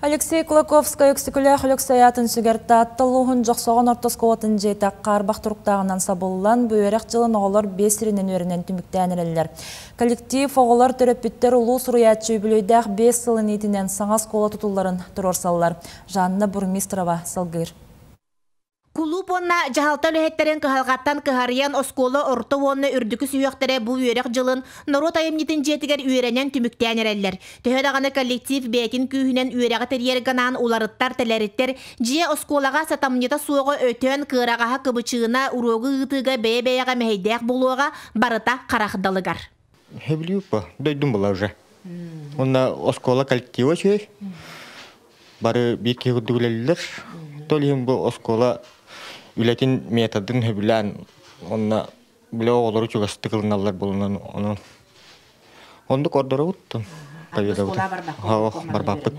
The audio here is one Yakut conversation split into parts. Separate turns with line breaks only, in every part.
Алексей Кулаковскай-Өксөкүлээх Өлөксөй аатын сүгэр Таатта улууһун Дьохсоҕон орто оскуолатын дьиэтэ Хаарбах туруктааҕынан сабыллан, бу үөрэх дьылын оҕолор биэс сиринэн үөрэнэн түмүктээн эрэллэр. Коллектив, оҕолор, төрөппүттэр улуу суруйааччы үбүлүөйдээх биэс сылын иитинэн саҥа оскуола тутулларын туруорсаллар. Жанна Бурмистрова салгыыр.
Кулууп уонна дьаһалта үлэһиттэрин кыһалҕаттан кыһарыйан оскуола орто уонна үрдүкү сүһүөхтэрэ бу үөрэх дьылын норуот айымньытын дьиэтигэр үөрэнэн түмүктээн эрэллэр. Төһө даҕаны коллектив бэйэтин күүһүнэн үөрэҕи тэрийэр гынаан уларыттар, тэлэриттэр, дьиэ оскуолаҕа сатамньыта суоҕа өтөн, кыараҕаһа кыбычыына, уруогу ыытыыга бэйэ-бэйэҕэ мэһэйдээх буолуоҕа, барыта харах далыгар. Хевлюпа
дойдум была уже. Уонна оскуола коллектива үчүгэй. Бары биир киһи курдук үлэлэллэр. Тол иһин бу оскуола үлэтин методын сөбүлээн уонна били оҕолору чугастык ылыналлар буолунан онон оннук ордоробуттан оскуола барбаппыт.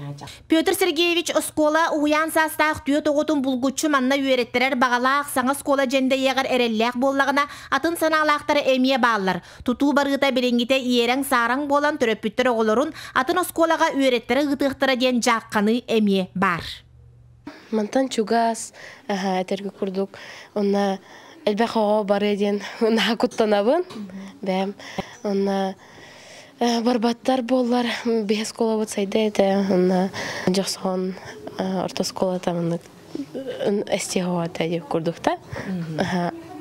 Петр Сергеевич оскуола уһуйаан саастаах түөрт оҕотун булгуччу манна үөрэттэрэр баҕалаах саҥа оскуола дьэндэйиэҕэр эрэллээх буоллаҕына атын санаалаахтара эмиэ бааллар. Тутуу барыыта билиҥҥитэ иэрэҥ-саараҥ буолан төрөппүттэр оҕолорун атын оскуолаҕа үөрэттэрэ ыытыахтара диэн дьаахханыы эмиэ баар. Мантан
чугас, этэргэ курдук, онно элбэх оҕо барыа диэн наһаа куттанабын. Бэм. Онно барбаттар буоллар биһи оскуолабыт сайда этэ, онно дьохсоҕон орто оскуолата маннык стиховатайы курдукта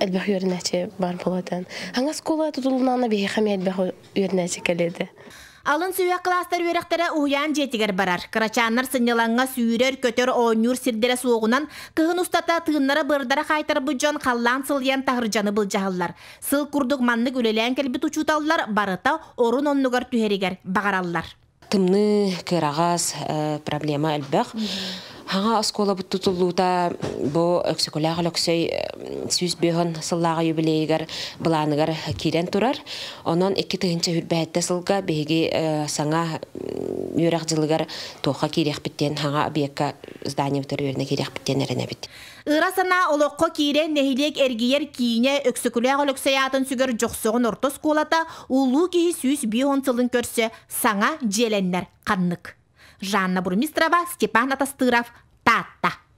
элбэх үөрүнэчи бар болотан аңа скула тутулунаана биһихами элбэх үөрүнэчи келеде Алын сүһэх
кластар үөрэхтэрэ уһуйаан дьиэтигэр барар. Кырачааннар сынньылаҥҥа сүүрэр, көтөр, оонньуур сирдэрэ суоҕунан, кыһын устата тыыннара бырдара хаайтарбыт дьон халлаан сылыйан таһырдьаны былдьаһаллар. Сыл курдук маннык үлэлээн кэлбит учууталлар барыта орун оннугар түһэригэр баҕараллар. Тымныы,
кыараҕас, проблема элбэх. Хаҥа оскуолабыт тутуллуута бу Өксөкүлээх Өлөксөй сүүс бөһөн сыллааҕы юбилейыгар былааныгар киирэн турар. Онон икки тыһынча үрбэһиттэ сылга биһиги саҥа үөрэх дьылыгар туохха киириэхпит диэн хаҥа объекка зданиебытыгар үөрэнэ киириэхпит диэн эрэнэбит. Ыра санаа олоххо
киирэн нэһилиэк эргийэр киинэ Өксөкүлээх Өлөксөй аатын сүгэр Дьохсоҕон орто оскуолата улуу киһи сүүс биир уон сылын көрсө саҥа дьиэлэннэр ханнык Жанна Бурмистрова Степан Атастыров Таатта